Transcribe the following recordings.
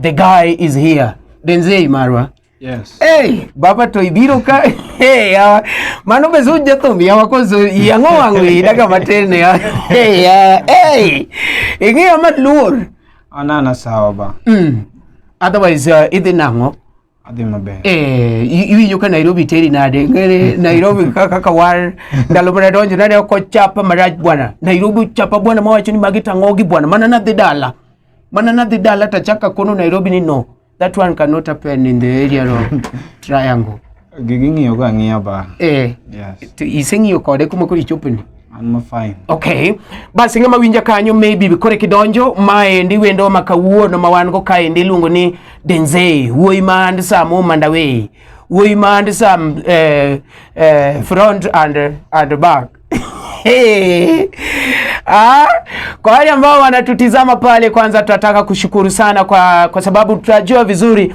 the guy is here Denzel Marwa Yes. Hey, baba to ibiro ka hey, yawa mano be zuj jathum yawa koso yang'o wang' wi daga matin yawa hey, yawa hey. ing'eyo maluor anana sawa ba mm. otherwise uh, idhi nang'o adhi maber eh iwinjo ka Nairobi teri nade ngere Nairobi kaka kawar ndalo mana donjo nade oko chapa maraj bwana Nairobi chapa bwana mawacho ni magi tangogi bwana mana nadhi dala mana nadhi dala tachaka kono Nairobi ni no that one cannot happen in the area of triangle gigi ng'iyo ga ng'iya ba eh yes iseng'iyo kode kuma koro ichopeni I'm fine. Okay. Basi ng'ama winja kanyo maybe bikore kidonjo maendi wendo ma kawuono ma wan go kaendi iluongo ni Denzel wuoyi ma and Sam Mandaway wuoyi ma and Sam eh, eh, front and, and back Hey. Ah, kwa wale ambao wanatutizama pale, kwanza tunataka kushukuru sana kwa, kwa sababu tunajua vizuri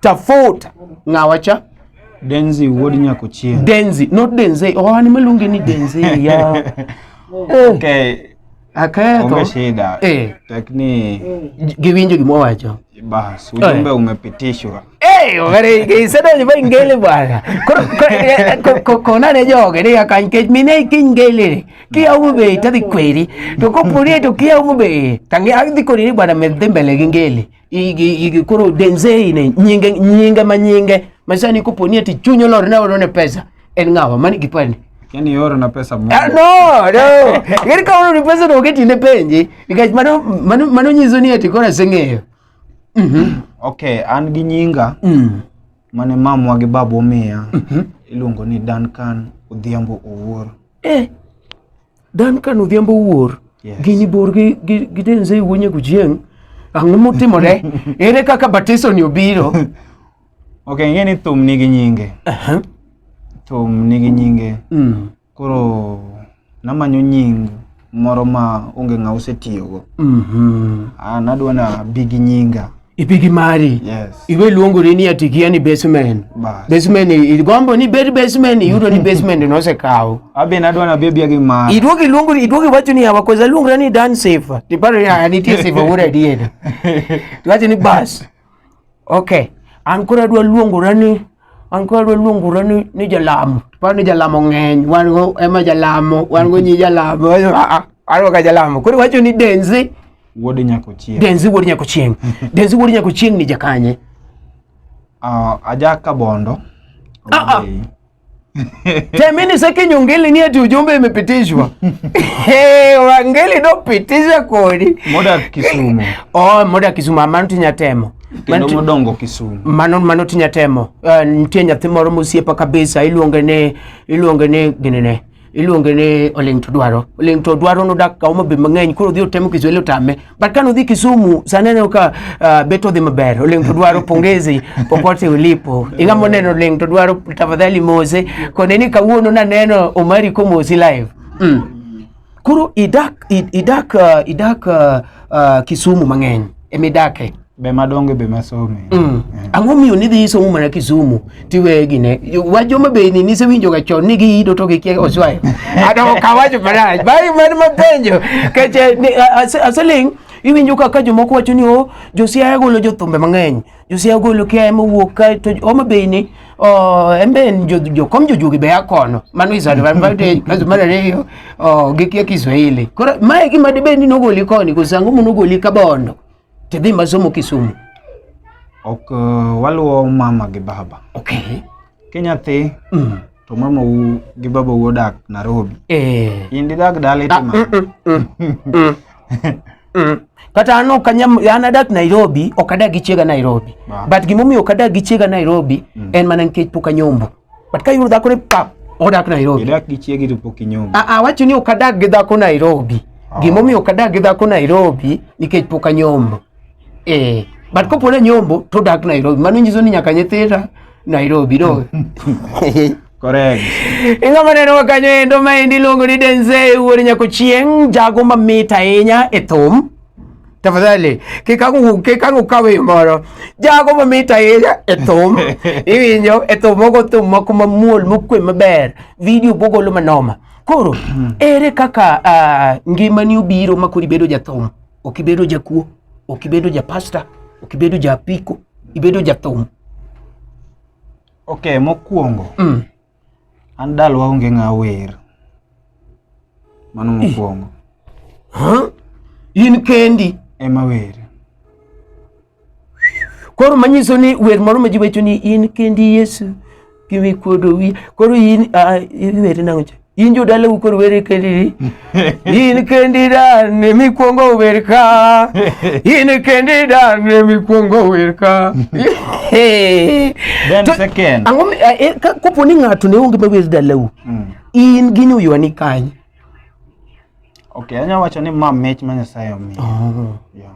Tafuta. Ngawacha? Denzi wuod nyako chien. Denzi, not Denze. Oh, ani maluonge ni Denze ya. Eh. Okay. Aketho. Onge shida. Eh. Lakini giwinjo gima wacho. Bas, ujumbe eh. umepitishwa. Eh, ogere gisado ni bai ngele bwana. Ko ko nane joge ni akan ke mine ki ngele. Ki au be tadi kweri. To ko puri to ki au be. Tangi agdi kori bwana medembele ngele. igi koro denzei ne nyinge nyinge ma nyinge masani koponi ati chunyo lor ne orone pesa en ng'awa mani gi pande yani oro na pesa mo ah, no no yani ka oro ni pesa no keti ne penje nikech mano mano mano nyiso ni ati kora seng'eyo mm -hmm. okay an gi nyinga mm. mane mamwa gi babu omiya mm -hmm. iluongo ni Duncan Odhiambo Owuor eh Dan kan odhiambo wuor yes. gini bor gi, gi, gi denze wuonye gujieng' ang'o motimore ere kaka batiso ni obiro ok ing'e ni thum nigi nyinge uh-huh. thum nigi nyinge mm. koro namanyo nying moro ma onge ng'a osetiyogo mm-hmm. Ah, nadwa na bigi nyinga ipigi mari yes. iwe luongori ni atikia ni basement basement igombo ni bed basement iyudo ni basement nosekawo abe nadwa na bebia gi mari iduogi luongori iduogi wacho ni hawa koza luongra ni dan safe tiparo ya nitie safe ura adier tiwacho ni bas okay an koro adwa luongora ni an koro adwa luongora ni ni jalamo tiparo ni jalamo ng'eny wan go ema jalamo wan go nyi jalamo aro ka jalamo koro wacho ni denzi Wuod Nyakochieng. Denzi Wuod Nyakochieng. Denzi Wuod Nyakochieng ni jakanye? Ah, uh, aja Kabondo. Ah, ah. Temini saki nyongeli ni ati ujumbe imepitishwa. Hey, wangeli do pitisha kodi. Moda Kisumu. Oh, moda Kisumu amantu nyatemo. Kendo modongo Kisumu. Mano mano tinyatemo. Uh, eh, nitie nyathi moro mosiepa kabisa iluonge ne iluonge ne ginene. iluonge ni oling to dwaro oling to dwaro nodak ka Homa Bay mang'eny koro odhi otemo Kiswahili otame but kane odhi Kisumu sana aneno ka uh, beto dhi maber oling to dwaro pongezi popote ulipo ing'ama oneno oling to dwaro tafadhali mose kone ni kawuono naneno Omari komosi live mm. koro idak idak uh, idak uh, uh, Kisumu mang'eny emidake be madonge be masome mm. eh. ang'o miyo nidhi isomo mana kisumu tiweye gine wach joma be ni nisewinjoga chon ni giyido to gikia oswayo adoko kawacho marach bari man mapenjo keche aseling iwinjo kaka jomoko wacho ni o oh, josiaya golo jothumbe mang'eny josiaya golo kiaye mowuok ka to homa bay ni oh, en be en jokom jojuogi be a kono mano is advantage kaso mar ariyo oh, gikia kiswahili koro mae gima dibed ni nogoli koni koso ang'o monogoli kabondo te dhi masomo Kisumu. Ok uh, waluwo mama gi baba. Okay. Ki nyathi mm. to mama u gi baba u odak Nairobi. Eh. In didag dala itima. Ah, mm, mm, mm, mm. mm. kata an ok anyam an adak Nairobi ok adag gi chiega Nairobi. Wow. But gimomiyo ok adag gi chiega Nairobi mm. en mana nikech pok anyombo. but ka yudo dhako ni pap odak Nairobi idak gi chiegi to pok inyombo a ah, a ah, wacho ni okadak gi dhako Nairobi oh. gima omiyo okadak gi dhako Nairobi nikech pok anyombo eh but kopo ne nyombo to dak Nairobi mano nyiso ni nyaka nyithira Nairobi no Correct. Ingo maneno wa kanyo endo ma endi luongo ni Denzel wuod nyako chieng' jago mamit ahinya e thum. tafadhali kikangu kikangu kawe moro jago ma mita ira etum iwinjo etum ogo tum moko mamuol mokwe maber video bogolo manoma koro hmm. ere kaka uh, ngimani obiro ma koro ibedo jathum ok ibedo jakuo ok ibedo japasta ok ibedo japiko ibedo jathum ok mokwongo mm. An dalwa onge ng'a wer. Mano mokwongo. Huh? In kendi ema wer. Koro manyiso ni wer moro ma ji wacho ni in kendi Yesu kiwi kuodo wi. Koro in uh, in wer nango cha. In jo dalau koro wer kendi. inikendida nemikwongo werka inikendida nemikwongo werka kopo ni ng'ato ne onge mawer dalau mm. in gi nyuyuani kanye okay anya wacho ni ma mich ma nyasaye omiyo oh. yeah.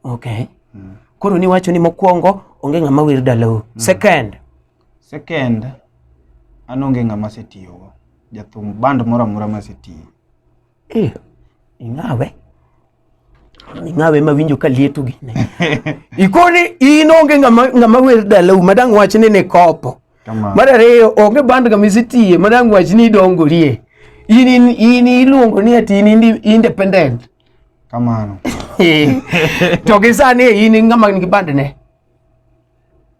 okay mm. koro niwacho ni mokwongo onge ng'ama wer dalau mm. second Second, an onge ng'ama asetiyogo. Jathum band moro amora masetiyo. Eh, ing'awe. Ing'awe ma winjo ka lieto gi. Ikoni in onge ng'ama ng'ama wer dalau madang wach ni ne kopo. Kama. Mar ariyo onge band kama isetiye madang wach ni idongorie. In in, in iluongo ni ati in indi- independent. Kamano. to gi sani in ng'ama nigi band ne.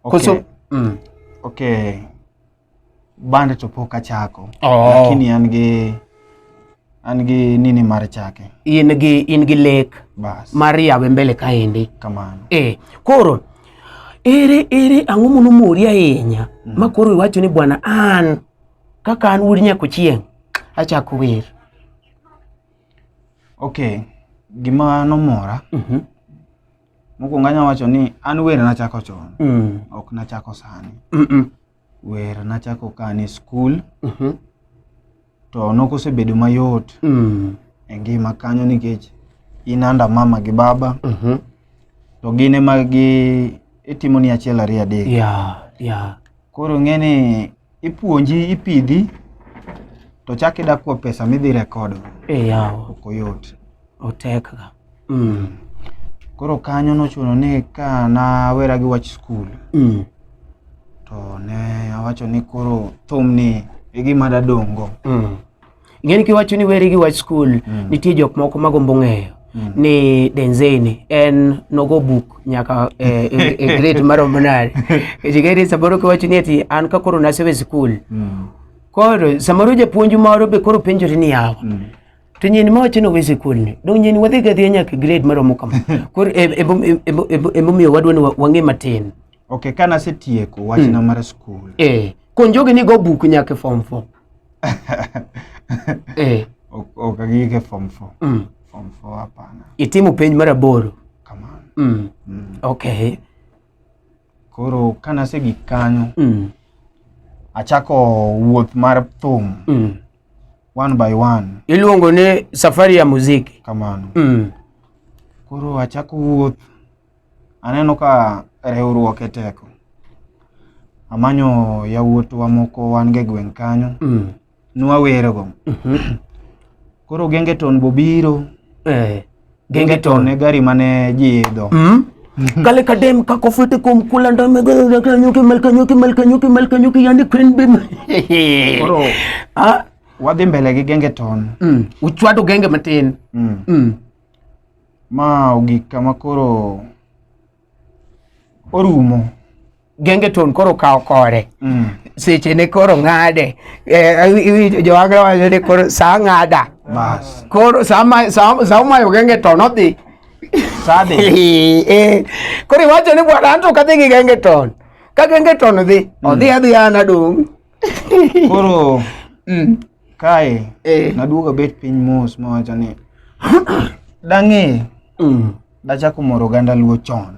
okay. Kusu, mm. okay. band to pok achako oh. lakini an gi an gi nini mar chake in gi in gi lek Bas. mar yawe mbele kaendi kamano eh koro ere ere ang'o mono mori ahinya mm. ma koro iwacho ni bwana an kaka an wuod nyako chieng' achako wer okay gima nomora mm -hmm. Mokwongo anya wacho ni an wer nachako chon, Mm. ok nachako sani. Mm-mm. Wer nachako ka an e skul, Mhm. to nokosebedo mayot Mm. e ngima kanyo nikech in anda mama gi baba, Mhm. to gin ema gi itimoni achiel ariyo adek. Yeah, yeah. Koro ng'e ni ipuonji ipidhi to chak ida kuo pesa midhi rekod e yawo ok oyot otek ga mm. koro kanyo nochuno ni ka nawera gi wach skul mm. to ne awacho ni koro thum ni e gima dadongo mm. Ing'eni kiwacho ni weri gi wach skul, mm. nitie jok moko magombo ng'eyo mm. ni Denzeni en nogo buk nyaka e, e, e grade maromo nade. Chikeri samoro kiwacho ni ati an ka koro nasewe skul. Mm. Koro samoro japuonj moro be koro penjori ni yawa. Mm. To nyeni ma wacho ni owe skul ni, dong' nyeni wadhi gadhiya nyaka grade maromo kama. Koro e, e, e, e, emomiyo wadwa ni wang'e matin. Okay, kana setieko wachna mm. mar skul. Eh, konjogi ni go buk nyaka form 4. eh. Okagike form 4. Mm. Form 4 hapana. Itimu penj mar aboro. Kamano. Mm. Mm. Okay. Koro kana se gik kanyo. Mm. Achako wuoth mar thum. Mm. One by one. Iluongo ni safari ya muziki. Kamano. Mm. Koro achako wuoth Aneno ka riwruok e teko. Amanyo yawuotwa moko wan ge gweng' kanyo. Mm. Nwawerego. Mhm. Koro gengeton bobiro. Eh. Gengeton e gari mane ji idho. Mm. Mhm. kale kadem kakofete kom kulanda megalanyuki malkanyuki malkanyuki malkanyuki yani queen bim Koro ah wadhi mbele gi gengeton. Mm. Uchwado genge matin. Mm. Mm. Ma ogik kama koro orumo. Gengeton koro kawo kore mm. seche ne koro ng'ade eh, iwinjo jowagra wacho ni koro saa ng'ada koro saa umayo gengeton odhi sade eh, koro iwacho ni bwana anto kadhi gi gengeton ka gengeton dhi mm. odhi adhi an adong' Koro mm. kae eh. naduogo bet piny mos mawacho ni dang'e mm. dachako moro oganda luo chon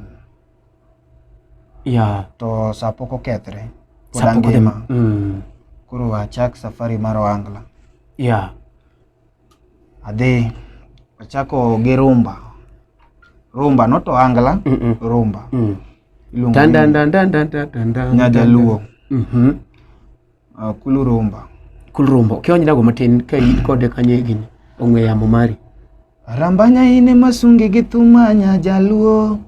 yeah. to sa pok okethre pod angima mm. koro achak safari mar oangla yeah. adhi achako gi rumba rumba noto angla mm -mm. rumba mm. nyajaluo mm -hmm. uh, kulu rumba kulu rumba kionynago matin ka in kode kanye gini ong'we yamo mari rambanya ine masungi gi thuma nyajaluo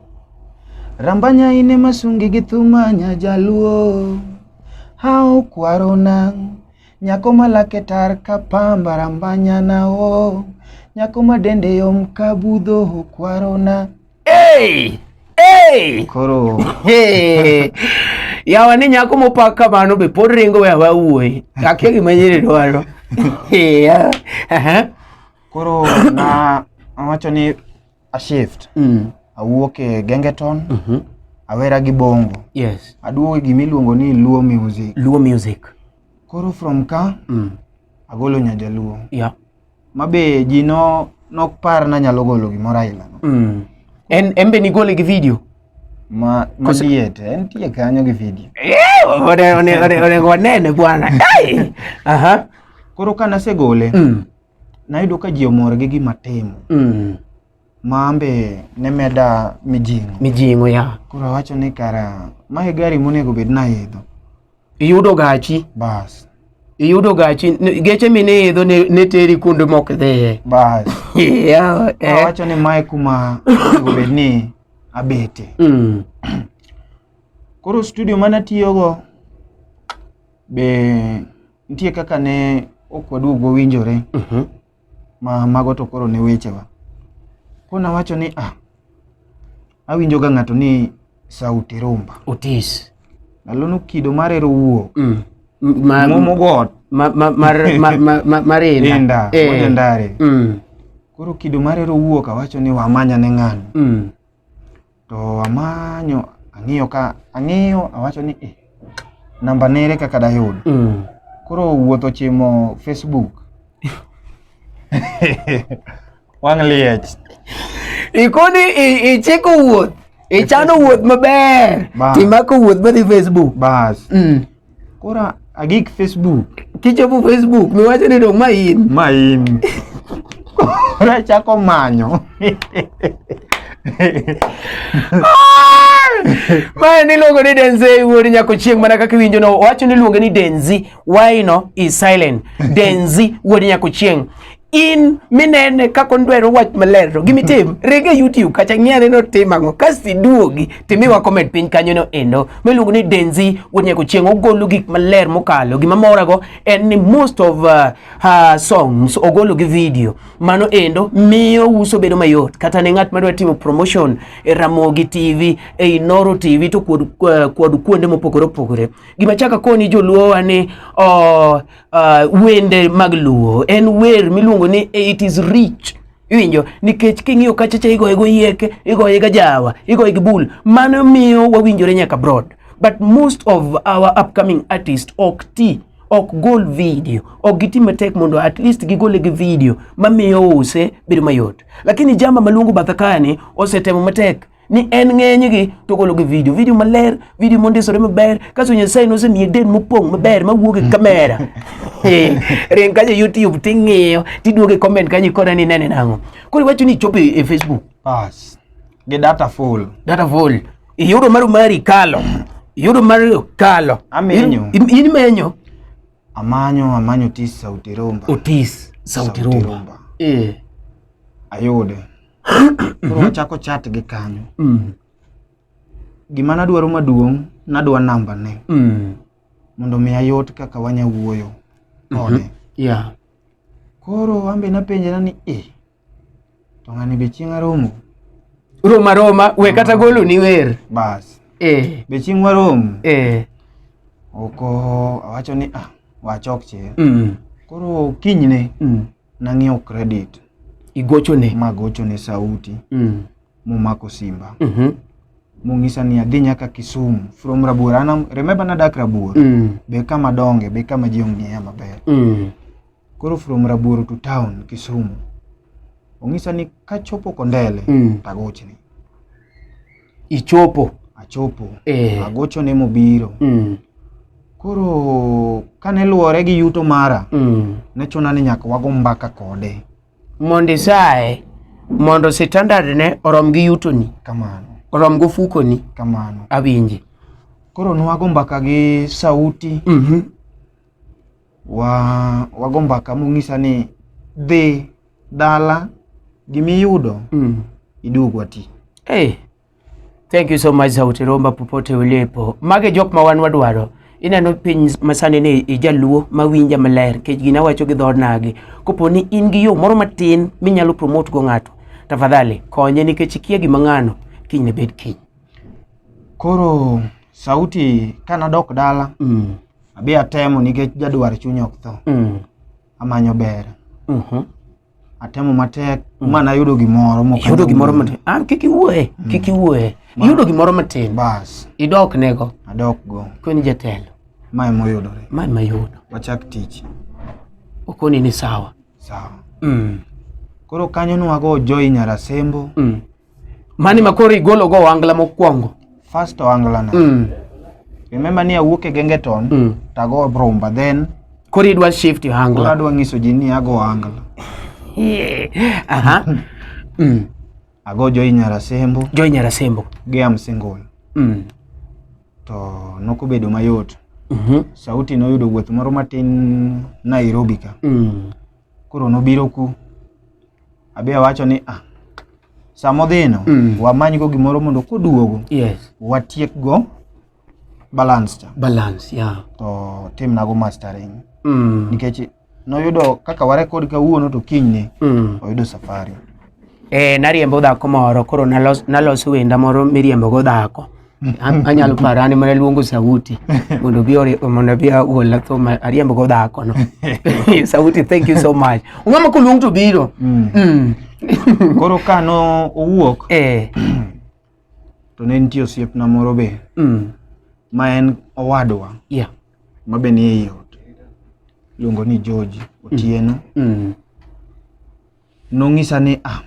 rambanya ine masungi gi thuma nyajaluo hao kwaro nang' Nyako ma lake tar ka pamba rambanyana o oh. Nyako ma dende yom ka budho okwarona hey! hey! Koro hey! yawa ni nyako mopak kamano be pod ringo we awa wuoyi akia gima nyiri dwaro koro na awacho ni a shift mm. awuok e gengeton mm -hmm. awera gi bongo yes. aduogo e gima iluongo ni luo music luo music Koro from ka mm. agolo nyajaluo yeah. mabe ji no nok par na nyalo golo gimoro aila no. Mm. En embe ni gole gi video. Ma ma diet en tie kanyo gi video. Eh, ore ore ore ore gonene bwana. Dai. Aha. Koro kana se gole. Mm. Nayudo ka ji omor gi gima timo. Mm. ma an be ne meda mijing'o mijing'o ya koro awacho ni kara mae gari monego bed naidho iyudo gachi bas iyudo gachi n- geche miniidho ne, ne teri kuonde mok dhiye bas yeah, eh. awacho ni mae kuma onego bed ni abete mm. koro studio mane atiyogo be nitie kaka ne ok waduog wawinjore Mhm. ma mago to koro ne wechewa. Koro nawacho ni ah, awinjo ga ng'ato ni sauti rumba. Otis. Nalono kido mar ero wuo. Mm. Ma, Momo got. Ma, ma, mar, ma, ma, ma, mar inda. Inda. Eh. Wode ndare. Mm. Koro kido mar ero wuo kawacho ni wamanya ne ng'ano. Mm. To amanyo ang'iyo ka ang'iyo awacho ni eh, namba nere kaka dayud. Mm. Koro wuoth ochimo Facebook. Wang' liech. Ikoni i- ichiko wuoth. Ichano wuoth maber. Ba. Timako wuoth madhi Facebook. Bas. Mm. Kora agik Facebook. Kichopo Facebook, miwacho ni dong ma in. Ma in. Kora chako manyo. Mae ni luongo ni Denzel wuod nyako chieng' mana kaka iwinjo no wacho ni luonge ni Denzi why no is silent Denzi wuod nyako chieng' in minene kako ndwero wach maler to gimitim rege youtube kacha ng'iane no tim ang'o kasto iduogi timiwa comment piny kanyo no endo miluongo ni denzi wonyeko chieng' ogolo gik maler mokalo gima morago en ni most of uh, uh, songs ogolo gi video mano endo miyo uso bedo mayot kata ne ng'at madwa timo promotion e ramogi tv e inoro tv to kod, uh, kod kuonde mopogore opogore gima chaka koni joluowa ni uh, uh, wende mag luo en wer miluongo ni it is rich iwinjo nikech king'iyo kachacha igoye go yieke igoye ga jawa igoye gi bul mano miyo wawinjore nyaka broad but most of our upcoming artist ok ti ok gol video ok giti matek mondo at least gigole gi video mamiyo use bedo mayot lakini jama maluongo bathakani osetemo matek ni en ng'enygi to gologi vidio vidio maler vidio mondisore maber kaso nyasaye nosemiye den mopong' maber mawuog e kamera eh, ring kacha youtube ting'iyo tiduogo e comment kanyo ikona ni nene nang'o koro iwacho ni ichopo e, e facebook Bas. Gi data full. data vol iyudo mar mari kalo iyudo mar kalo Amenyo. In- in- in menyo Amanyo amanyo tis sauti rumba. otis sauti Sauti rumba Rumba. eh Ayude. koro wachako chat gi kanyo Mm. gima nadwaro maduong' nadwa namba ne Mm. mondo mi ayot kaka wanya wuoyo kode Yeah. koro ambe napenjena ni e to ng'ani be chieng' aromo Roma Roma, we kata golo ni wer. bas Eh. be chieng' waromo Eh. oko awacho ni ah wachok chir Mm. koro kinyne Mm. nang'iewo credit igochone magochone sauti mm. momako simba mm -hmm. mong'isa ni adhi nyaka Kisumu from Rabuor an remember nadak Rabuor mm. be kama donge be kama ji ong'eya maber mm. koro from Rabuor to town Kisumu ong'isa ni kachopo Kondele mm. tagochni ichopo achopo eh. agocho ne mobiro mm. koro kane luwore gi yuto mara mm. ne chuna ni nyaka wago mbaka kode mondo isaye mondo standard ne orom gi yutoni kamano orom gofukoni kamano awinji koro nwago mbaka gi sauti mm -hmm. wa wago mbaka mong'isa ni dhi dala gimiyudo mm. iduog wati hey. thank you so much sauti romba popote ulipo mage jok ma wan wadwaro ineno piny masani ni ijaluo mawinja maler nikech gina wacho gi dhod nagi kopo ni in gi yo moro matin minyalo promote go ng'ato tafadhali konye nikech ikia gima ng'ano kiny ne bed kiny koro sauti kanadok dala mm. abi atemo nikech jadwar chuny ok tho mm. amanyo ber mm -hmm. atemo matek mm. mana yudo gimoro yudo gimoro matin ah kik iwuoye mm. kik iwuoye yudo gimoro matin bas idok nego adok go kweni jatelo mae moyudore mae mayudo wachak tich okoni ni sawa sawa mm. koro kanyo nwago joy nyarasembo mm. Mani ma koro igolo go wangla mokwongo. First wangla na. Mm. Remember ni awuok e Gengeton mm. tago Bromba then koro idwa shift wangla. Koro adwa nyiso ji ni ago wangla. Yeah. Aha. mm. Ago Joy Nyarasembo. Joy Nyarasembo. Gi am single. Mm. To nokobedo mayot. Mm -hmm. Sauti noyudo wuoth moro matin Nairobi ka. Mm. koro nobiro ku abi awacho ni ah sama odhino mm. wamanygo gimoro mondo koduogo yes. watiekgo balance cha balance yeah. to timnago mastering mm. nikech noyudo kaka warekod kawuono to kinyne mm. oyudo safari e, nariembo dhako moro koro nalos, nalos wenda moro miriembogo dhako anyalo para ni mana luongo sauti mondo bi ore mondo bi ola to ma ariambo go dhako no sauti thank you so much ngama ko luong to biro mm. mm. koro ka no owuok eh to ne nitie osiepna moro be mm. ma en owadwa yeah. ma be ni e yot luongo ni George Otieno mm. mm. Nong'isa ni ah,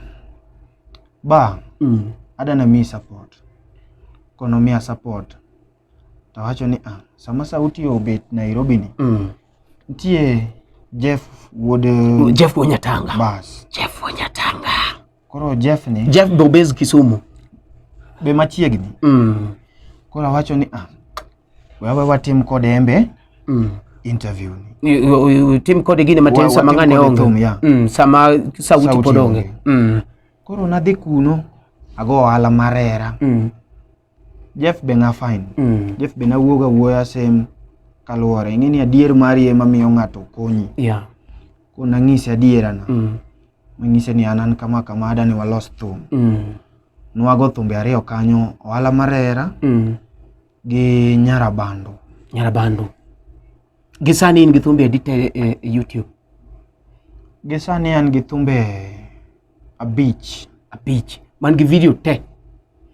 ba Mm. adana miyi support kono miya support tawacho ni ah, sama sauti obet nairobi ni Mm. nitie jeff wuod eh, Jeff Wonyatanga. bas Jeff Wonyatanga. koro jeff ni Jeff be obes Kisumu. be machiegni Mm. koro awacho ni ah, Wawe watim kode embe mm. interview ni. Tim kode gine matin sama ng'ane onge. Thum, yeah. mm, sama sauti, sauti pod onge. Mm. Koro nadhi kuno ago ohala marera. Mm. Jeff be na fine. Mm. Jeff be na wuoga wuoya same kaluwore ing'e ni adier mari ema miyo ng'ato konyi yeah. ko nang'ise adierana mm. mang'ise ni an an kama kama adani walos thum mm. nwago thumbe ariyo kanyo ohala marera mm. gi Nyarabando. Nyarabando. Gi sani in gi thumbe adi te e, e YouTube? Gi sani an gi thumbe abich. Abich. Man gi video te?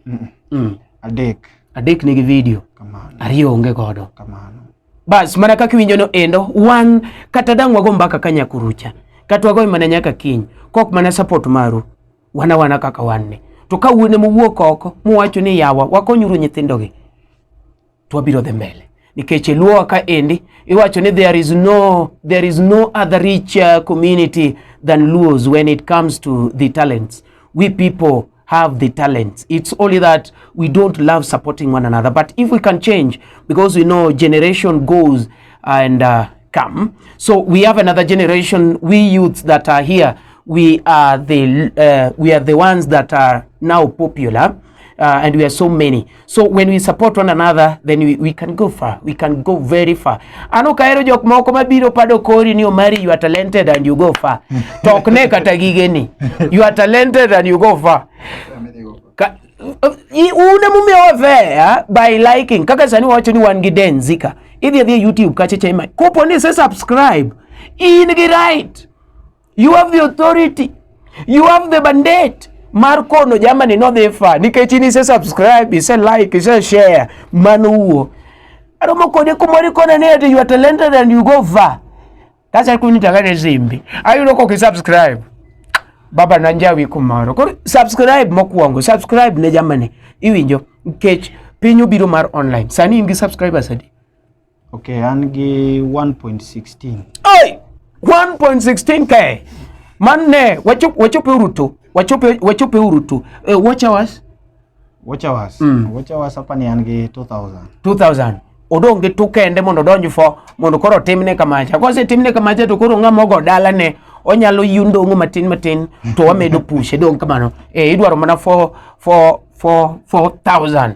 Mm. Mm. Adek. Adek nigi video. Kamano. Ariyo onge godo. Kamano. Bas mana kaka iwinjo no endo wan kata dang' wago mbaka ka nyakurucha kata wagoy mana nyaka kiny kok mana support maru. wana wana kaka wanne to ka wuone mowuok oko muwacho ni yawa wakonyuru nyithindogi to wabiro dhi mbele nikech e luowa ka endi iwacho ni there is no, there is no other rich uh, community than luos when it comes to the talents we people have the talents it's only that we don't love supporting one another but if we can change because we know generation goes and uh, come so we have another generation we youths that are here we are the uh, we are the ones that are now popular uh, and we are so many so when we support one another then we, we can go far we can go very far an ok ahero jok moko mabiro pado kori ni omari you are talented and you go far to ok ne kata gigeni you are talented and you go far Ka, uh, i- un emomiyo wavea by liking kaka sani wawacho ni wan gi den zika idhi adhiya youtube kacha chema kopo ni se subscribe in gi right You have the authority. You have the mandate. Mar kono jamani no dhi fa nikech in ise subscribe, ise like, ise share mano wuo. Aromo kode kumori kona ne ati you are talented and you go far. Kasa kuni tagane zimbi. Ayudo ko ki subscribe. Baba na njawi kumaro. Ko subscribe mokwongo, subscribe ne jamani. Iwinjo nikech piny obiro mar online. Sani in gi subscribers adi? Okay, an gi 1.16. Oi! 1.16k. Manne, wachope wachope urutu. Wachope wachope urutu. Uh, eh, watch hours. Watch hours. Mm. Watch hours hapa ni an gi 2000. 2000. Odong gi tu kende mondo odonj fo mondo koro timne kamacha. Kose timne kamacha to koro ng'ama ogo dala ne onyalo yundong'o matin matin to wamedo pushe dong kamano. Eh, idwaro mana 4 4 4 4000.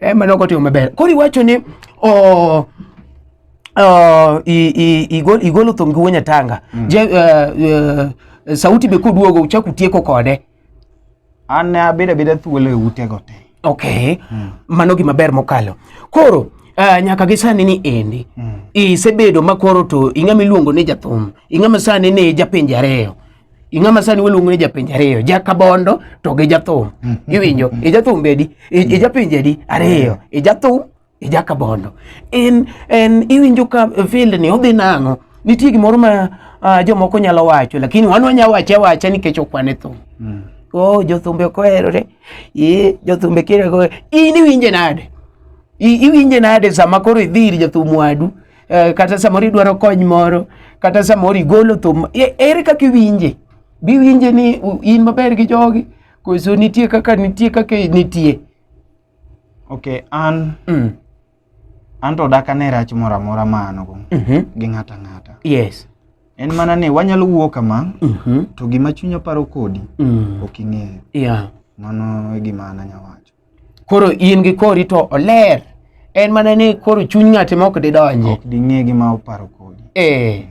e mano ok otimo maber koro iwacho ni o Uh, i- i- igol- igolo thum gi wuonya tanga Je, uh, uh, sauti be koduogo uchak utieko kode an ne abedo abeda thuolo e utego te okay mano gima ber mokalo koro uh, nyaka gi sani ni endi isebedo ma koro to ing'ama iluongo ni jathum ing'ama sani ni japinje ariyo ing'ama sani waluongo ni japenj ariyo jakabondo to gi jathum iwinjo ijathum bedi ijapinje di ariyo ijathum ijakabondo en en iwinjo ka field ni odhi nang'o nitie gimoro ma uh, jomoko nyalo wacho lakini wan wanya wache wacha nikech okwane thum mm. oh jothumbe ok oherore ee jothumbe kire in iwinje nade iwinje nade sama koro idhi ir jathum wadu eh, kata samoro idwaro kony moro kata samoro igolo thum e, ere kaka iwinje biwinje ni in maber gi jogi koso nitie kaka nitie kaka nitie ok an mm. an to dak ane rach moro amora ma an go mm -hmm. gi ng'ata ng'ata yes en mana ni wanyalo wuo kama mm -hmm. to gima chunya paro kodi mm. ok ing'eyo yeah. mano e gima an anyawacho koro in gi kori to oler en mana ni koro chuny ng'ate ma ok didonji ok ding'e gima oparo kodi eh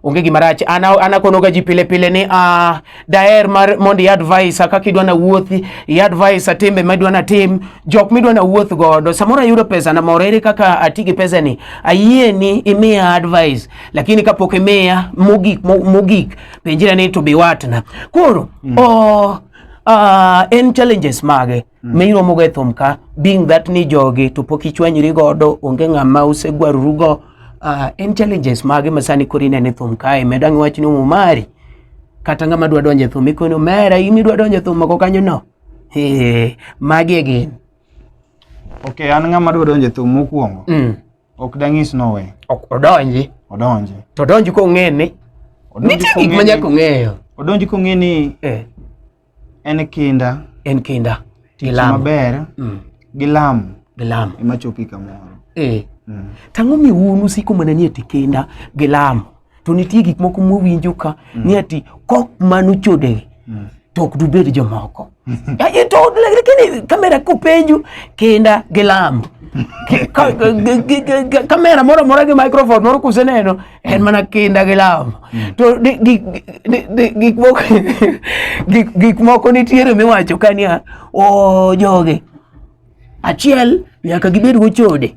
onge gima rach ana ana kono ga ji pile pile ni ah daer mar mondi advice kaka idwa na wuothi i advice atimbe ma idwa na tim jok mi idwa na wuoth godo samoro ayudo pesa na moro ere kaka ati gi pesa ni ayie ni imiya advice lakini kapok imiya mogik mogik penjira ni to be watna koro mm. oh Uh, en challenges mage mm. ma iromogo e thum ka being that ni jogi to pok ichwanyri godo onge ng'ama usegwarorugo uh, ah, en challenges mage ma sani koro inene thum kae medo ang' wachni umumari kata ng'ama dwa donjo e thum ikoni umera in idwa donjo e thum mako kanyo no magi e gin okay an ng'ama dwa donjo e thum mokwongo mm. Ok dang'is nowe. Ok odonji. Odonji. To odonji kong'e ni. Nitie gik ma nyaka ong'eyo. Odonji kong'e ni eh. en kinda. En kinda. Tich maber. Mm. Gi lamo. Gi lamo. Ema chopi kamoro. Eh. Mm. Tang'o mi un usiko mana ni eti kinda gi lamo. to nitie gik moko mowinjo ka mm. ni ati kok mano chodewe mm. to ok dubed jomoko to lakini kamera kopenju kinda gi lamo kamera moro amora gi microphone moro kuseneno en mana kinda gi lamo mm. to gik moko nitiere miwacho ka niya o joge Achiel, nyaka gibed gochode.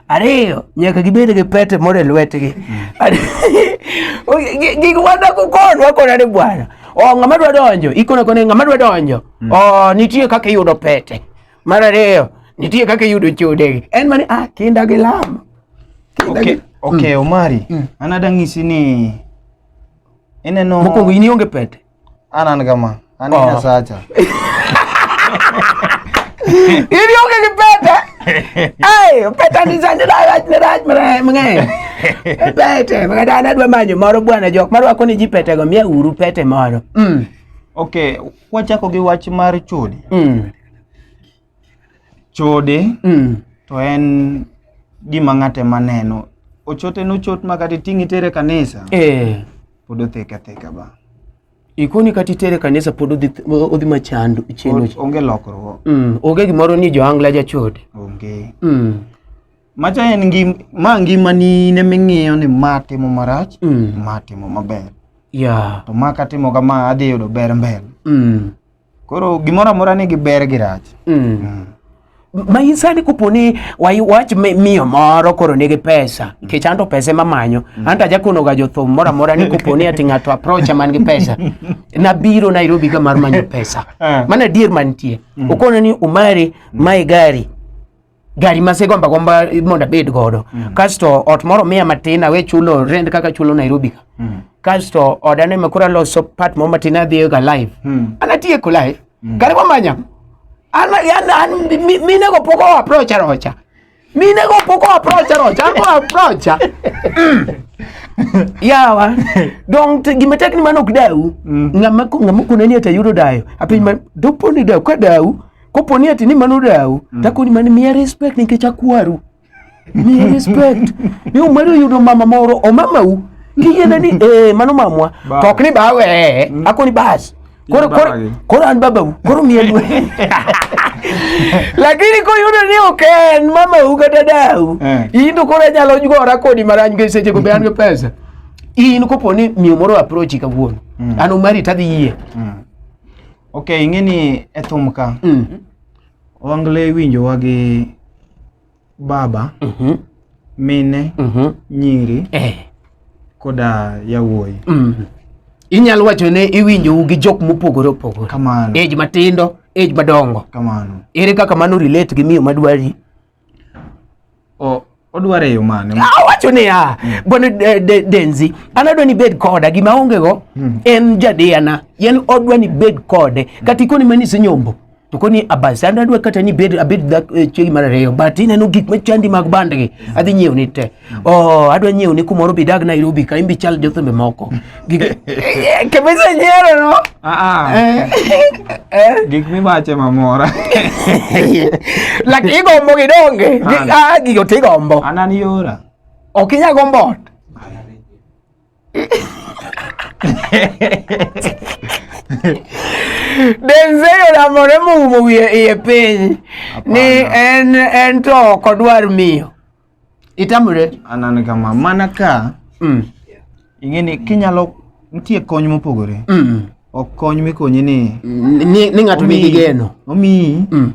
Ariyo, nyaka gibed gi pete moro e lwetgi. Gik wadako kon wakona ni bwana. O oh, ng'ama dwa donjo, ikona kone ng'ama dwa donjo. Mm. O oh, nitie kaka iyudo pete. Mar ariyo, nitie kaka iyudo chodegi. En mani ah kinda gi lamo. Okay, okay mm. Omari. Mm. Anada ng'isi ni ineno Mokwongo in ionge pete. anani kama anini oh. sacha ili oke kipete ay pete ni sanje da raj ni raj mre mre pete mre da na dwa manyo moro bwana jok maro ako ni jipete go mia uru pete moro mm okay wachako gi wach mar chudi mm Chode mm. to en gima ng'ate maneno ochote nochot ma kata iting'i tere kanisa eh. pod othek atheka ba ikoni kata itere kanisa pod odhi odhi machando chendo onge lokruok mm. onge gimoro ni joangla jachode onge mm. macha en ngim ma ngima ni ne ming'iyo ni ma timo marach mm. ma timo maber yeah. to ma katimo kama adhi yudo ber mbele mm. Koro gimoro amora nigi ber gi rach. Mm. Mm. ma in sani kopo ni wai- wach mi- miyo moro koro nigi pesa nikech anto pesa ema manyo anto ajakonoga jothum moro amora ni kopo ni ati ng'ato aprocha man gi pesa nabiro nairobi ka mar manyo pesa Ah. mana adier mantie okona ni umari mae gari gari masegomba gomba mondo abed godo mm. kasto ot moro miya matin awe chulo rent kaka chulo Nairobi ka mm. kasto oda ne makura loso part moro matin adhiyo ga live mm. anatieko live mm. kare wamanya an an an mine go poko approach rocha mine go poko approach rocha an go approach mm. yawa dong gima tek ni mano ok dau mm. ngama ngama kunani atayudo dayo apiny mm. doponi dau ka dau Kopo ni ati ni mano dau, mm. tako ni mani miya respect nikech akwaru. Miya respect. Ni umedo yudo mama moro, o mama u, kiyene ni, eh, mano mamwa, to ok ni bawe, eh, mm. ako ni bas. Koro, koro, koro an baba u, koro miya luwe. lakini koyudo ni ok en mamau kata dau eh. in to koro anyalo gora kodi marany gi sechego be an gi pesa in kopo ni miyo moro approachi kawuono mm. an omari tadhi yie mm. Ok, ing'e ni e thum ka mm. Owangla iwinjowa gi baba mm -hmm. mine mm -hmm. nyiri eh. koda yawuoyi mm -hmm. Inyalo wacho ne iwinjou gi jok mopogore opogore kamano age matindo age madongo kamano ere kaka mano relate gi miyo madwari Oh, odwaro e yo mane? Awacho niya, mm. bwana Denzi, an adwa ni bed koda, gima aongego mm. en jadiyana, yen odwa ni bed kode, mm. kata ikoni mani isenyombo to koni abas an adwa kata ni bed abed eh, chiegi mar ariyo but ineno gik machandi mag bandgi adhi nyiewo ni te Oh, adwa nyiewo ni kumoro bidag Nairobi ka imbi chal jothembe moko. Gige kabisa nyero no. Ah, Eh. Eh. gik miwache mamora Lak igombo gidonge. Gi- Ana. Ah, gigo tigombo. anan yora Ok inya gombo ot. Denzel olamore moumo wiye iye piny ni en en to ok odwar miyo. Itamre? Anani kama, mana ka mm. ing'eni kinyalo nitie kony mopogore mm. ok kony mikonyi ni ni ng'ato nigi geno omiyi mm.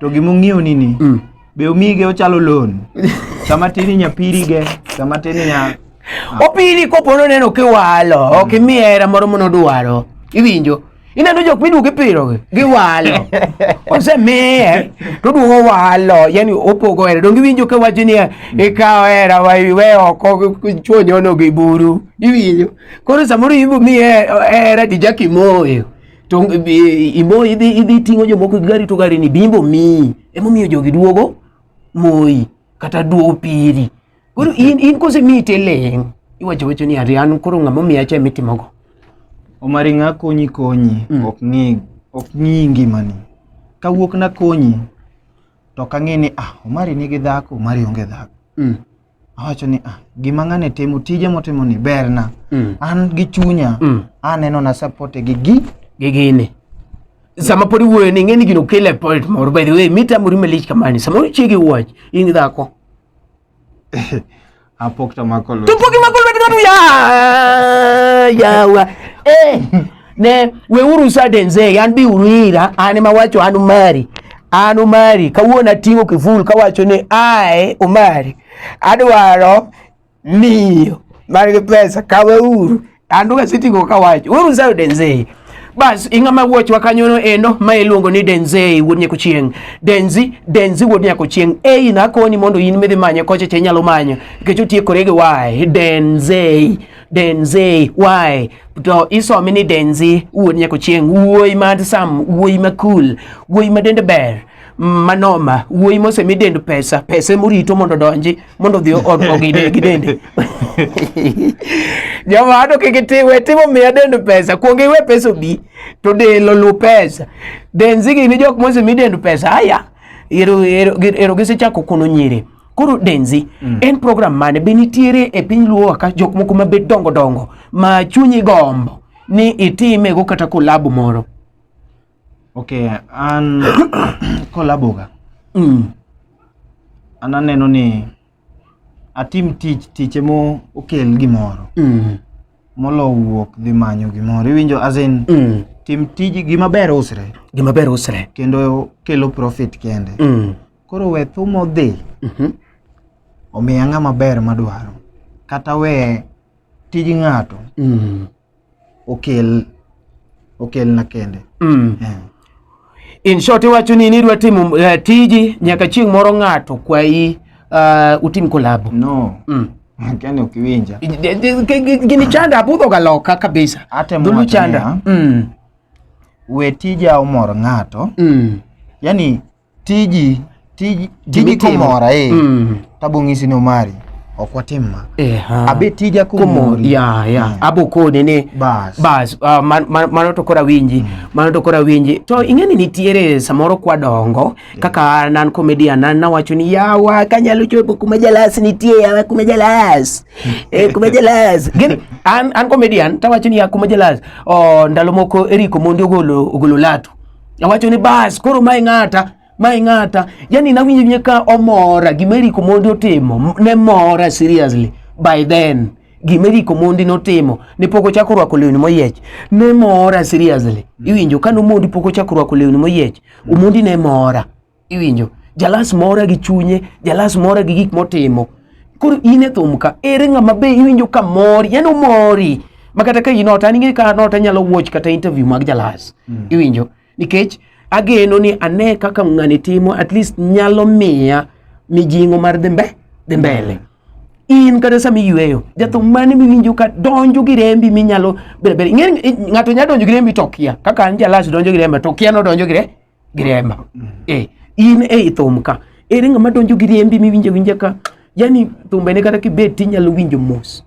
to gima ong'iew ni ni mm. be omige ochalo loan sama tini nyapirige sama tini nya opiri kopo noneno kiwalo ok imiye hera moro monodwaro iwinjo ineno jok miduogo ipirogi giwalo osemiye to oduogo walo yani opogo hera donge iwinjo ka wacho niya mm. ikawo hera we oko chuo nyono gi buru iwinjo koro samoro ibo mi hera dijak imoyo to e, imoyo idhi ting'o jomoko gi gari to gari ni bimbo miyi emomiyo jogi duogo moyi kata duo piri koro in, in kose miyi teleng iwacho wacho ni ari an koro ng'ama omiya cha mitimogo omari ng'a konyi konyi Mm. ok ng'i ok ng'i ngimani kawuok nakonyi to ok ang'e ni ah omari nigi dhako omari onge dhako mm. awacho ni ah gima ng'ane timo tije motimo ni berna Mm. an gi chunya Mm. aneno na support gi gi gi gini sama podi wuoyo ni ng'eni gino kele point moro by the way mita muri malich kamani sama uchiegi wach in dhako apok to mako lwedo to poki mako lwedo ng'ato ya yawa eh ne we uru sudden say an bi uru ira an ma wacho an umari an umari kawuono ating'o kiful kawacho ni ae umari adwaro Ndio. Bali pesa kawe uru. Anduga siti go kawacho. Uru nzayo denzei. Bas inga ma wuoch wa kanyono endo ma iluongo ni Denzei wuod nyako chieng. Denzi, Denzi wuod nyako chieng. Ei na koni mondo in midhi manye koche che nyalo manyo. Nikech otie korege wae. Denzei. Denzei. Wae. To isomi ni Denzi wuod nyako chieng. Wuoi ma sam. Wuoi ma cool. Wuoi ma dende ber. manoma wuoyi mosemi dend pesa pesa emorito mondo donji mondo odhi ogide gi dende joma ado kik itiwe timo miya dend pesa kuong iwe pesa obi to del olu pesa denzi gini jok mosemi dend pesa aya ero ero ero gisechako kuno nyiri koro denzi mm. en program mane be nitiere e piny luo ka jok moko ma bet dongo dongo ma chunyi gombo ni itime go kata kolabu moro Okay, an kolaboga. Mm. An aneno ni atim tich tich emo okel gimoro. Mm. Molo wuok dhi manyo gimoro. Iwinjo as in mm. tim tij gima ber usre. Gima ber usre. Kendo kelo profit kende. Mm. Koro we thumo dhi. Mm -hmm. Omiya ng'ama ber madwaro. Kata we tij ng'ato. Mm. okel okel na kende mm. yeah. In short iwacho ni nidwa timo uh, tiji nyaka chieng' moro ng'ato kwayi uh, utim kolabo no mm. Kani ukiwinja gini chanda abudho ga loka kabisa dhulu chanda mm. we tija omor ng'ato mm. yani tiji tiji tiji komora eh mm. tabo ng'isi no mari ok watim ma eh, abe tija komori ya ya yeah. abo koni ni bas bas uh, ah, mano man, man to kora winji mm. mano to kora winji to ing'eni nitiere samoro kwa dongo yeah. kaka nan comedian nan nawacho ni yawa kanyalo chopo kuma jalas nitie yawa kuma jalas eh, kuma jalas gini an, an comedian tawacho ni ya kuma jalas oh, ndalo moko eriko mondi ogolo ogolo latu Awacho ni bas koro mae ng'ata mae ng'ata yani nawinjo nye ka omora gima Eric Omondi otimo ne mora seriously by then gima Eric Omondi notimo ne pok ochako rwako lewni moyiech ne mora seriously iwinjo ka Omondi pok ochako rwako lewni moyiech Omondi ne mora iwinjo jalas mora gi chunye jalas mora gi gik motimo koro in e thum ka ere ng'ama be iwinjo ka mori yani omori ma kata ka in ot an ing'e ka an ot anyalo watch kata interview mag jalas mm. iwinjo nikech ageno ni ane kaka ng'ani timo at least nyalo miya mijing'o mar dhi mbe dhi mbele mm. in kata sama iyweyo jathum mane miwinjo ka donjo gi rembi minyalo bedo bedo ng'ato nyalo donjo gi rembi to kia kaka an jalas donjo gi rembi to kia nodonjo gi rembi gi remba mm. eh in e thum ka ere ng'ama donjo gi rembi miwinjo winja ka yani thumbe ne kata kibet tinyalo winjo mos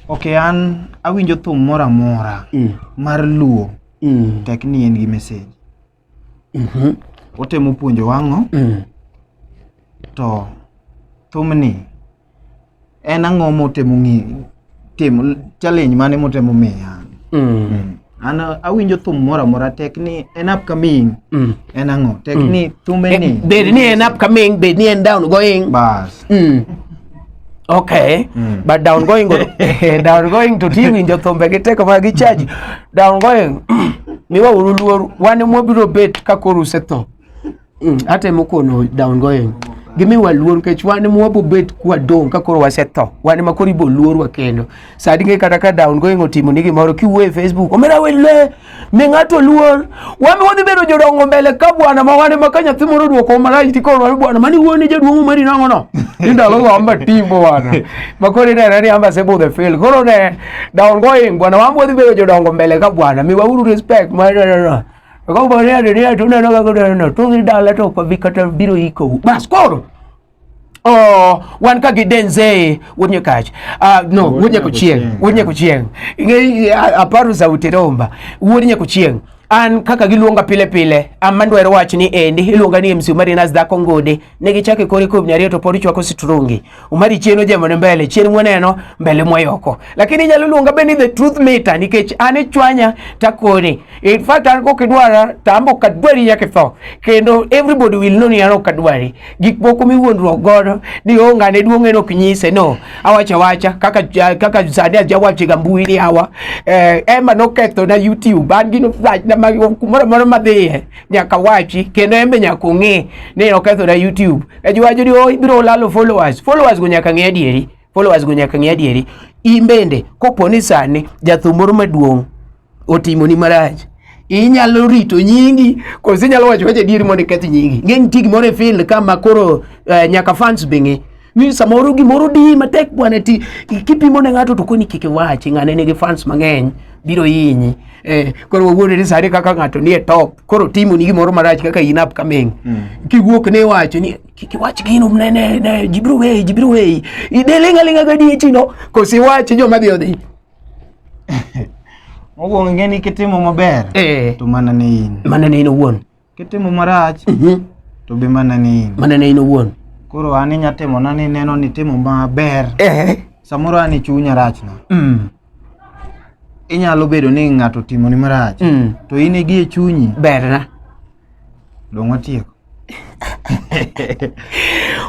ok an awinjo thum moro amora mm. mar luo mm. tek ni en gi message mm -hmm. otemo puonjo wang'o mm. to thumni en ang'o motemo ng'eyo timo challenge mane motemo miya mm. mm. an awinjo thum moro amora tek ni en upcoming mm. en ang'o tek mm. ni thume eh, ni bed ni en upcoming bed ni en down going bas mm. Okay. Mm. But down going go, eh, down going to tiwi njo thombe gi teko ma gi charge. Down going miwa uru luor wan mwabiro bet ka koro usetho. Mm, atemo kono down going gimiwa luor kech wan ema wabobet kwadong' ka koro wasetho wan ema koro ibo luorwa kendo sadi ng'e kata ka down going otimo ni gimoro kiwuo e facebook omera wele mi ng'ato luor wami wadhi bedo jodongo mbele ka bwana ma wan ema ka nyathi moro odwoko marach ti koro wami bwana mani wuone jaduong' omeri nang'o no ni ndalo go amba timo wana ma koro ineno ni amba sebo the fail koro ne down going bwana wami wadhi bedo jodongo mbele ka bwana miwauru respect ma Akaomba leo leo tuna na gago na to ni dala to kwa vikata biro iko. Bas koro. Oh, wan ka gidenze wonye kach. Ah uh, no, wonye kuchieng. Wonye kuchieng. Ngi aparu za uteromba. Wonye kuchieng. An kaka giluonga pile pile, amandwero wach ni endi iluonga ni MC Marinas Dhako Ngode. ne gichake kore kob nyariyo to pod ichwako sitrungi umari chien ojemo ne mbele chien mwaneno mbele mwayoko lakini inyalo luonga be ni the truth meter nikech an ichwanya takoni in fact an kok idwara to ambo kadwari nyaka itho kendo everybody will know ni an ok adwari gik moko miwuondruok godo ni onge ane duong' en ok nyise no awacha wacha kaka kaka sani ajawachiga mbui ni awa eh, ema nokethona youtube an gino kumoro moro madhiye nyaka wachi kendo embe nyaka ong'e ni okethora YouTube. Ka ji wacho ni oh, ibiro lalo followers. Followers go nyaka ng'e adieri. Followers go nyaka ng'e adieri. In bende kopo ni sani jathum moro maduong' otimoni marach inyalo rito nyingi koso inyalo wacho wacho adieri mondo iketh nyingi. Ng'e nitie gimoro e field ka ma koro uh, nyaka fans be ng'e. ni samoro gimoro di matek bwana ti kipimo ne ng'ato to koni kik iwachi ng'ane nigi fans mang'eny biro hinyi eh, koro wawuonde ni sani kaka ng'ato nie top koro timo ni gimoro marach kaka in upcoming mm. kiwuok ne wacho ni kik iwach gino ne ne ne jibiro weyi jibiro weyi idelinga linga gadi echino kosi wach joma dhi odhi mokwongo ing'e ni kitimo maber eh. to mana ne in mana ne in owuon Kitimo marach Mhm. to be mana ni in. mana ne in owuon Koro an inya timo na ni neno ni timo maber. Eh. Samoro an chunya rachna. Mm. Inyalo bedo ni ng'ato timo ni marach. Mm. To in igi e chunyi berna dong watieko.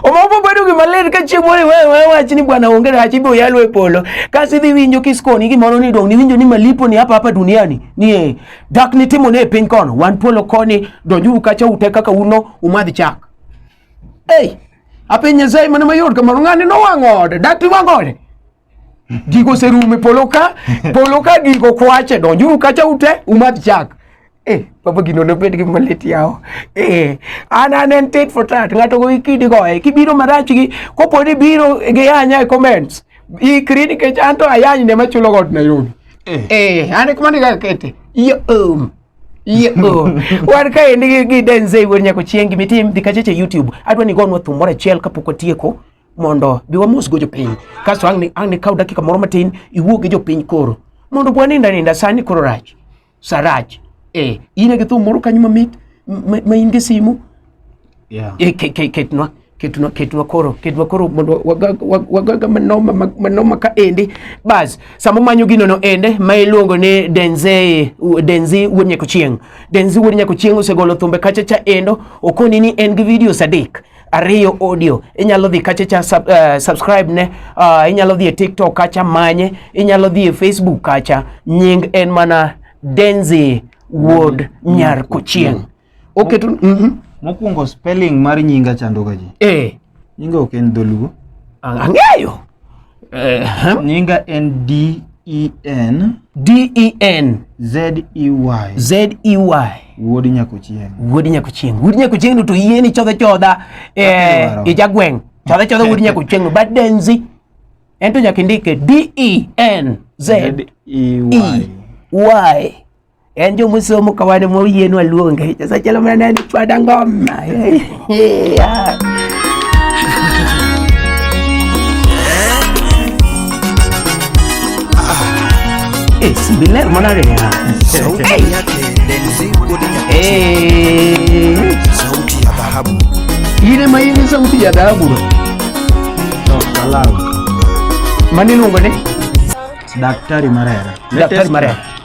omoko bedo gima ler ka chieng' moro iwe- iwe wach ni bwana onge rach ibiro yalo e polo kasi idhi winjo kiskoni gimoro ni dong' niwinjo ni malipo ni hapa hapa duniani ni eh, Dak nitimo ne piny kono wan polo koni donjuru kacha ute kaka uno umadh chak. Ei, apiny Nyasaye mana mayot kamano ng'ani nowang'o ode, dak tiwang'o ode. Gigo oserumo e polo ka, polo ka gigo kwache donjuru kacha ute umadh chak. Eh, baba gino nobed gi malit yawo. Eh, an an en tit for tat, ng'ato go ikidi goye, kibiro marach gi, kopo ni biro gi yanya e comments, ikri nikech an to ayany ne machulo got Nairobi. Eh. Eh, an kuma ni ga kete. Yo um. Yo. Wan ka en gi gi denze wer nyako chieng gi mitim di kacheche YouTube. Adwa ni gonwa thum moro achiel kapok otieko mondo bi wamos go jopiny. Kasto ang' ni ang' ni kaw dakika moro matin iwuo gi jopiny koro. Mondo bwa ninda ninda sani koro rach. Sarach. Eh, in gi thum moro kanyo mamit ma ma in gi simu yeah. e, ke, ke, ketnwa ketnwa ketnwa koro ketnwa koro mondo wagaga manoma manoma ka endi bas samo manyo gino no ende ma iluongo ni denze denzi wuod nyako chieng denzi wuod nyako chieng osegolo thumbe kacha cha endo okoni ni en gi videos adek ariyo audio inyalo dhi kacha cha sub, uh, subscribe ne uh, inyalo dhi e tiktok kacha manye inyalo dhi e facebook kacha nying en mana denzi wuod mm. nyar kochieng mm. Oketo mm -hmm. Mokwongo spelling mar nyinga chandoga ji. Eh. Nyinga ok en dholuo. Ang'eyo. Eh, nyinga en D E N D E N Z E Y Z E Y Wuod Nyakochieng. Wuod Nyakochieng. Wuod Nyakochieng no to yie ni chodha chodha eh ijagweng. Chodha chodha wuod Nyakochieng no badenzi. Ento nyaka indike D E N Z E Y. E, y. En jo musomo ka wan moyienu aluonge. Sasa chalo mana ni chwada ngoma. Eh, si biler mana re. Sauti yake Denzi Kodi Nyakati. Eh. Sauti ya dhahabu. Ile maini sauti ya dhahabu. No, kalau. Mani lungo ne? Daktari Marera. Daktari Marera.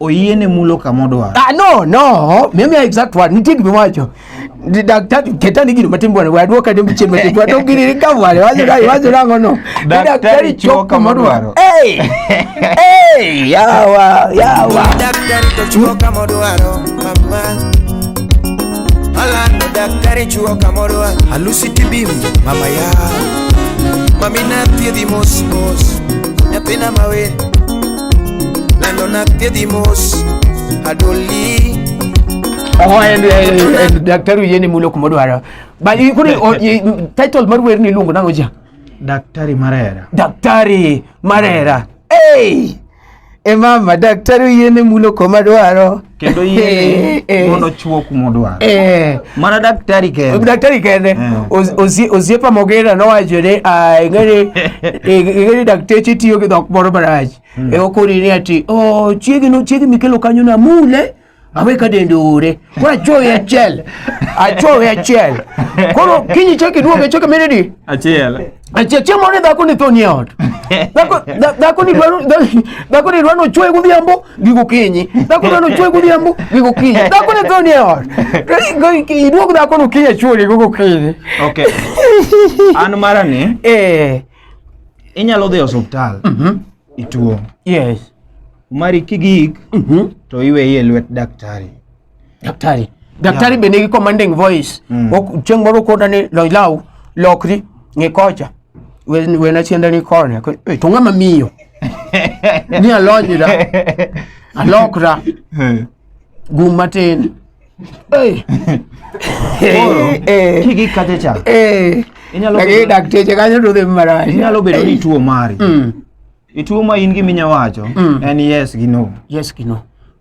oyiene mulo kama odwaro. Ah, no, no. Mimi exact word. Nitie gima wacho. Daktari ketani gino matin bwana. Wadwo kade mchien matin. Wadwo gini ni kama wale. Wazo dai, wazo nango no. Daktari chuo kama odwaro. Hey! Hey! Yawa, yawa. Daktari to chuo kama odwaro. Mama. Ala no daktari chuo kama odwaro. Alusi tibim, mama ya. Mami na thiedhi mos mos. Nyathina mawen. Lando na tedhi mos adoli Oho, en, en, en, daktari oyieni mulo kuma odwaro Ba- i- koro o- i- title mar wer ni iluongo nang'o ja daktari marera daktari marera hey! e mama daktari oyiene mulo kuma dwaro kendo yie eh, eh. mondo chwo kuma odwaro eh. mana daktari kende daktari kende osiepa mogera nowacho ni ah, ing'eni dakteche tiyo gi dhok moro marach hmm. e okoni ni ati oh, chiegi mikelo kanyo na mule awe ka dende ore koro achuowe achiel achuowe achiel koro kinyi chaki duoge chaka menedi achiel chiemo ni dhako ni thoni ot dhako dhako ni dwaro dhako ni dwaro chwe gudhiambo gigo kinyi dhako dwaro chwe gudhiambo gigo kinyi dhako ni thoni ot iduog dhako no kinyi chwe gigo kinyi okay an mara ni eh inyalo dhi osiptal mhm. ituo yes mari kigik mhm. to iweye lwet daktari Daktari. Daktari yeah. bende gi commanding voice. Mm. Chieng' moro koda ni lony law lokri ng'e kocha. Wena chienda ni kone. Eh, to ng'ama miyo. Ni alony da. Alokra. Eh. Gum matin. Eh. Eh. Kiki kacha cha. Eh. Inyalo bedo dakteche kanyo to dhi marach. Inyalo bedo ni tuo mari. Mm. Ituo ma in gi minya wacho mm. en yes gi no. Yes gi no.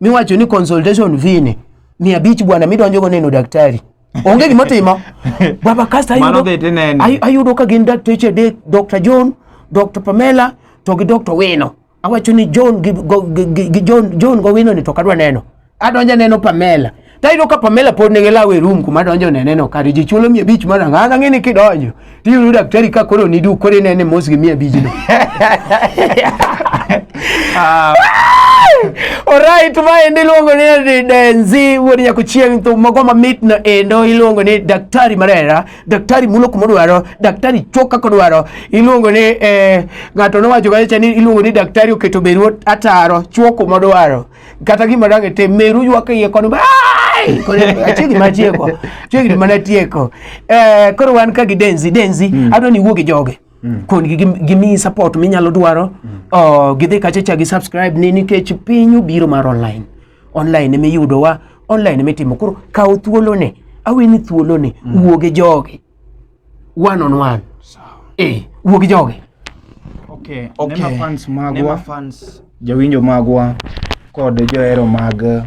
miwacho ni consultation fee ni mia abich bwana midonjogo neno daktari onge gima timo baba kasto ayudo ka gin dakteche adek dr john dr pamela to gi dr wino awacho ni john gi john gowino ni to kadwa neno adonja neno pamela Tayudo ka Pamela pod nigi law e room kuma donjo neneno kare ji chulo mia abich mar ang'aka ng'e ni kidonjo tiyudo daktari ka koro ni duk koro inene mos gi mia abijno Ah, Alright, ma ende iluongo ni Denzi wuod nyako chieng' thum mago mamit no endo iluongo ni daktari marera, daktari mulo kuma odwaro, daktari chok kaka odwaro. Iluongo ni eh, ng'ato nowacho kacha ni iluongo ni daktari oketo beru ataro chwo kuma odwaro. kata gima dang' itim meru ywak iye kono achiegni ma tieko chiegni mana tieko eh, koro wan ka gi denzi denzi mm. adwa ni iwuog gi joge mm. kongi gimiyi support minyalo dwaro mm. oh, gidhi kachacha gi subscribe ni nikech piny obiro mar online online ema iyudowa online ema itimo koro kaw thuolone aweni thuolone wuoge joge one on one. Sawa. Eh, wuo gi joge. Okay. Okay. Nema fans magwa. Nema fans. Jawinjo magwa kod johero mag eh,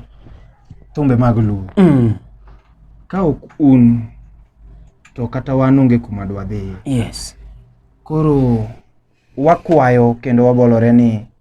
thumbe mag Luo. Mm. Ka ok un to kata wan onge kuma dwadhiye. Yes. Koro wakwayo kendo wabolore ni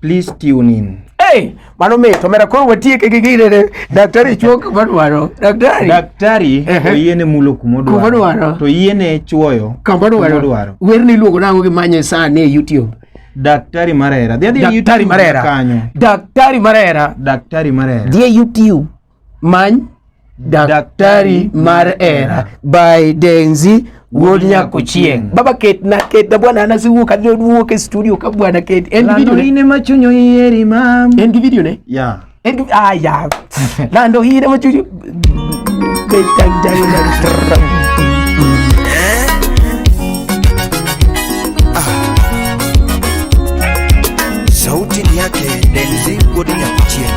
Please tune in. Hey, mano mit omera koro watieke gi gine ne daktari chuo kuma dwaro daktari Daktari Ehe. oyiene mulo kuma Kuma odwaro odwaro. to yiene chuoyo kama dwaro odwaro. werni iluongo nango gimanye sani e youtube Daktari Marera. Dhi adhi e daktari YouTube marera kanyo. daktari marera Daktari Marera. dhi e youtube Many daktari mar era by Denzi wuod nyako chieng baba ket na ket na bwana ana siwuok adhi wuok e studio ka bwana ket en gi video ne ma chunyo yeri mam en gi video ne ya en gi ah ya lando ine ma chunyo ket tang tang tang sauti yake Denzi wuod nyako chieng